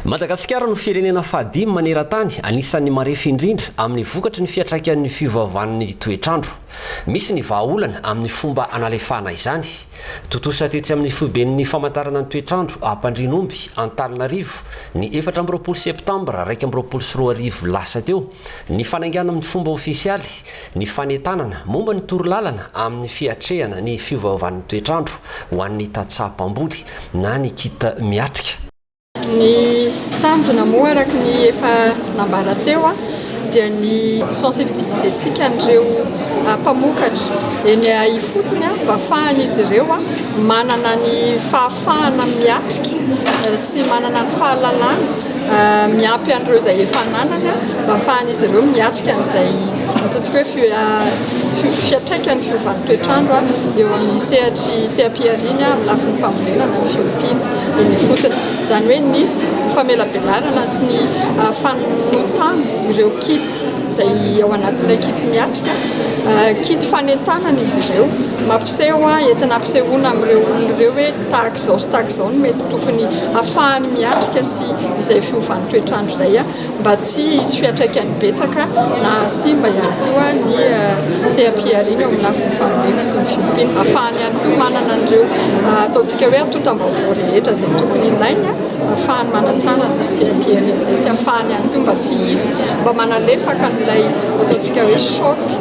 Madagasikara no firenena fahadimy maneran-tany anisan'ny marefo indrindra amin'ny vokatry ny fiantraikan'ny fiovaovan'ny toetr'andro. Misy ny vahaolana amin'ny fomba analefahana izany. Tontosa tetsy amin'ny foiben'ny famantarana ny toetr'andro Ampandrianomby, Antananarivo, ny efatra amby roapolo septambra iraika amby roapolo sy roa arivo lasa teo, Ny fanaingana amin'ny fomba ofisialy ny fanentanana momba ny torolalana amin'ny fiatrehana ny fiovaovan'ny toetr'andro ho an'ny tantsaha mpamboly na ny kit miatrika. Ny tanjona moa araka ny efa nambara teo dia ny hi-sensibiliser-tsika an'ireo mpamokatra eny ifotony mba hahafahan'izy ireo manana ny fahafahana miatrika sy manana ny fahalalana miampy an'ireo izay efa nanana mba hahafahan'izy ireo miatrika an'izay ataontsika hoe fiantraikan'ny fiovan'ny toetr'andro eo amin'ny sehatry seha-pihariana amin'ny lafiny fambolena na ny fiompiana eny ifotony. Izany hoe nisy ny famelabelarana sy ny ah, fanotana ireo kit izay ao anatin'ilay kit miatrika ah, kit fanentanana izy ireo mampiseho entina ampisehoana amin'ireo olona ireo hoe tahaka izao sy tahaka izao no mety tokony hahafahany miatrika sy izay fiovan'ny toetr'andro izay mba tsy hisy fiantraikany betsaka na hahasimba ihany koa ny seha-pihariana eo amin'ny lafiny fambolena sy ny fiompiana. Hahafahany ihany koa manana an'ireo ataontsika hoe antontam-baovao rehetra izay tokony ilainy hahafahany manatsara an'izay seha-pihariana izay sy hahafahany ihany koa mba tsy hisy mba manalefaka an'ilay ataontsika hoe choc.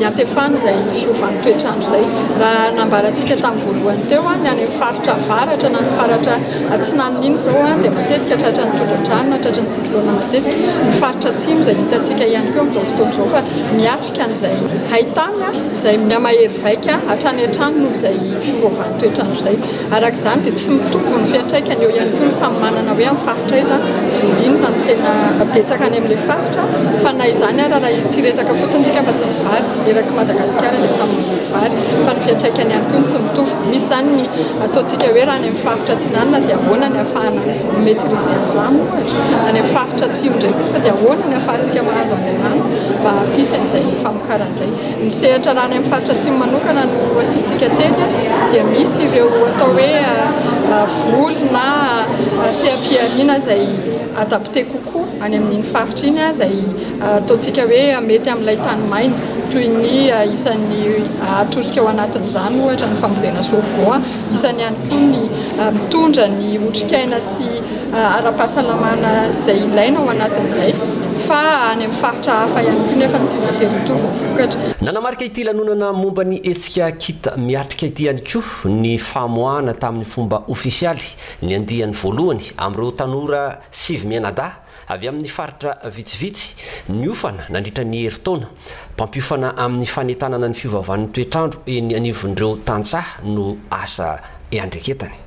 iantefana izay fiovan'ny toetr'andro izay. Raha nambarantsika tamin'ny voalohany teo, ny any amin'ny faritra avaratra na ny faritra atsinanana iny izao dia matetika tratran'ny tondra-drano na tratran'ny cyclone matetika. Ny faritra atsimo izay hitantsika ihany koa amin'izao fotoana izao fa miatrika an'izay hain-tany izay miha-mahery vaika hatrany hatrany noho izay fiovaovan'ny toetr'andro izay. Araka izany dia tsy mitovy ny fiantraikany eo ihany koa ny samy manana hoe amin'ny faritra aiza voly inona no tena betsaka any amin'ilay faritra fa na izany ara raha tsy hiresaka fotsiny tsika afa-tsy ny vary eraky Madagasikara dia samy mboly vary fa ny fiantraikany ihany koa no tsy mitovy misy izany ny ataontsika hoe raha any amin'ny faritra atsinanana dia ahoana ny afahana mi maitrise ny rano ohatra any amin'ny faritra atsimo indray kosa dia ahoana ny afahantsika mahazo an'ilay rano mba hampisy an'izay famokarana izay Ny sehatra rà any amin'ny faritra Atsimo manokana no asiantsika teny dia misy ireo atao hoe voly na seha-pihariana izay adapté kokoa any amin'iny faritra iny izay ataontsika hoe mety amin'ilay tany maina toy ny isan'ny atosika ao anatin'izany ohatra ny fambolena sorgho, isan'ny ihany koa ny mitondra ny otrikaina sy ara-pahasalamana izay ilaina ao anatin'izay fa any amin'ny faritra hafa ihany koa nefa ny tsy voatery hitohy vao vokatra. Nanamarika ity lanonana momba ny hetsika Kit miatrika ity ihany koa ny famoahana tamin'ny fomba ofisialy ny andiany voalohany amin'ireo tanora sivy mianadahy avy amin'ny faritra vitsivitsy niofana nandritra ny herintaona mpampiofana amin'ny fanentanana ny fiovaovan'ny toetr'andro eny anivon'ireo tantsaha no asa iandreketany.